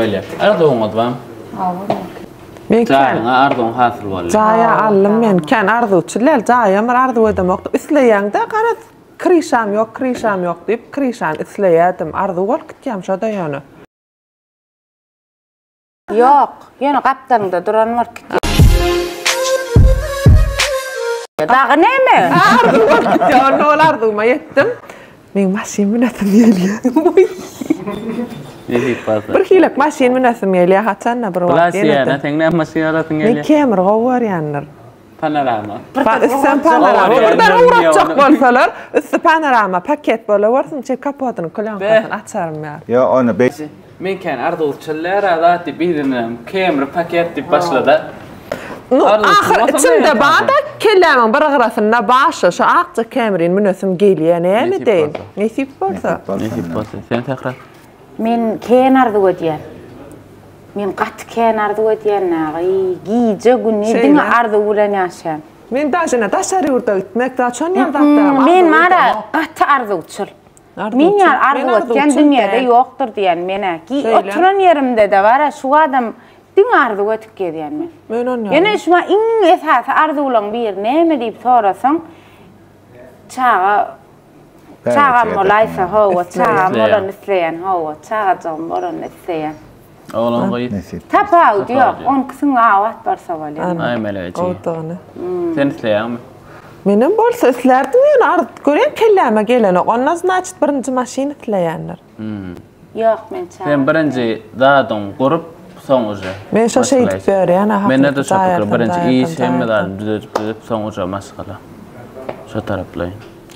Beýle. Arzuwyňyz bar. Men kän. Jaýyňa arzuwyň hasyl boldy. Jaýa aldym men. Kän arzuwçyl däl. Jaýam bir arzuw edemokdym. Isleýäň-de garaz, kryşam ýok, kryşam ýok diýip, kryşany isleýärdim. Arzuw bolup gitýärmiş o-da ýöne. Ýok, ýöne gapdalyňda duran bolup gitýär. Dagy näme? Arzuw bolup gitýär. Onda ol arzuwyma ýetdim. Meň maşyn münesim gelýä. Bir hilek maşyn münesim gelýä haçanda bir wagt. Blas ýa-da seň näme maşyn alasyň gelýä? Men Camry gowy görýändir. Panorama. Üstem panorama. Birden ugratjak bolsalar, üsti panorama paket bolawersin, içi kapotyny, plýonkasyny açarym ýa. Ýa ony. Men kän arzuwçyl däl-ä zat diýip yzyndanam Camry paket diýip başlada. Nu, ahyr içimde bar-da, kellämiň bir gyrasynda bar şu, şu akja Camryny münesim gelýä, näme edeýin? Nesip bolsa. Nesip bolsa. Sen Sähra? Men kän arzuw edýän. Men gaty kän arzuw edýän dagy. Gije, gündiz diňe arzuw bilen ýaşaýan. Men daşyna daşary ýurda gitmek, daşonýam zatlaram arzuw edýän. Men, bar-a, gaty arzuwçyl. Men ýaly arzuw etýän dünýäde ýokdur diýýän men-ä. Oturan ýerimde-de bar-a şu adam diňe arzuw edip gezýän men. Men onýaly. Ýöne şu maňa iň esasy arzuwlaryň biri näme diýip sorasaň, çaga çagam bolaýsa, hawa, çagam bolany isleýän, hawa, çagajygym bolany isleýän. Oglan gyz. Tapawut ýok, oňküsiň abat barsa bolýa. Nämeläýjy. Gowudygyny. Sen isleýäňmi? Menem bolsa islärdim ýöne arz görýän kelläme gelenok. Onda znaçit birinji maşyn isleýändir. Ýok men çaga. Sen birinji zadyň gurup soň uje. Men şo şeýdip ýörýän aha. Mende-de şo pikir birinji iş hemme zadyny düzedip düzedip soň uje maşgala. Şo taraplaýyn.